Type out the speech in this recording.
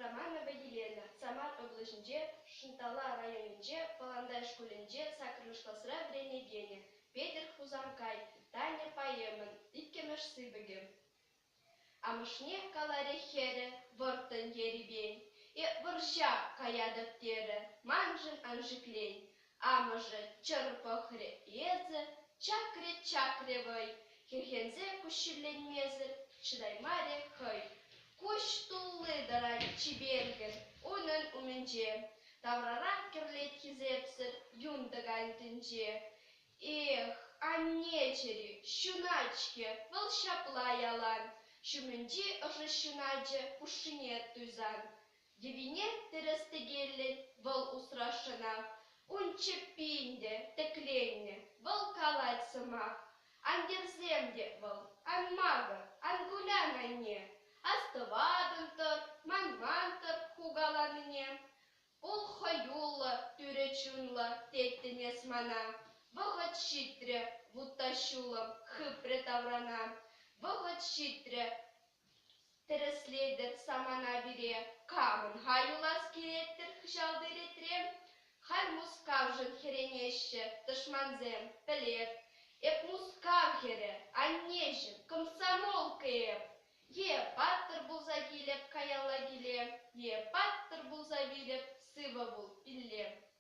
Романова Елена, Самар облаҫӗнче, Шӑнтала районӗнче, Пӑлантай шкулӗнче саккӑрмӗш класра вӗренекенӗ, Петӗр Хусанкай, Таня поэмӑн иккӗмӗш сыпӑкӗ. Амӑшне каларе хӗрӗ вӑрттӑн ерипен, Э вӑрҫа каятӑп терӗ, маншӑн ан шиклен, Амӑшӗ чӑр пӑхрӗ, эсӗ, чакрӗ-чакрӗ вӑй, хӗрхенсе куҫҫульленмесӗр чӑтаймарӗ хӑй. Куҫ тулли тӑрать чипергӗн унӑн умӗнче, таврарах кӗрлет хисепсӗр юн тӑкань тӗнче. Эх, анне чӗри, ҫунать-ҫке вӑл ҫапла ялан, ҫумӗнчи ӑшӑ ҫуначӗ хушшине туйсан. Йӑвине тӗрӗс тӗкеллӗн вӑл усрасшӑна. Ун чӗппи ӗнтӗ тӗкленнӗ, вӑл калать сӑмах. Ан йӗрсем те вӑл, ан макӑр, ан кулян, анне. Астӑватӑн-тӑр, манман-тӑр хукаланине. Пул хӑюллӑ, тӳрӗ чунлӑ, теттӗн эс мана. Вӑхӑт ҫитрӗ, вутта ҫулӑм хыпрӗ таврана. Вӑхӑт ҫитрӗ, Тӗрӗслетӗп самана пире, камӑн-ха юлас килет-тӗр кӑҫалти ретре? Халь Мускавшӑн хӗренеҫҫӗ тӑшмансем, пӗлеп. Эп Мускав хӗрӗ, аннеҫӗм, комсомолка эп. Е паттӑр пулса килӗп каялла киле, е паттӑр пулса вилӗп сывӑ пул пилле.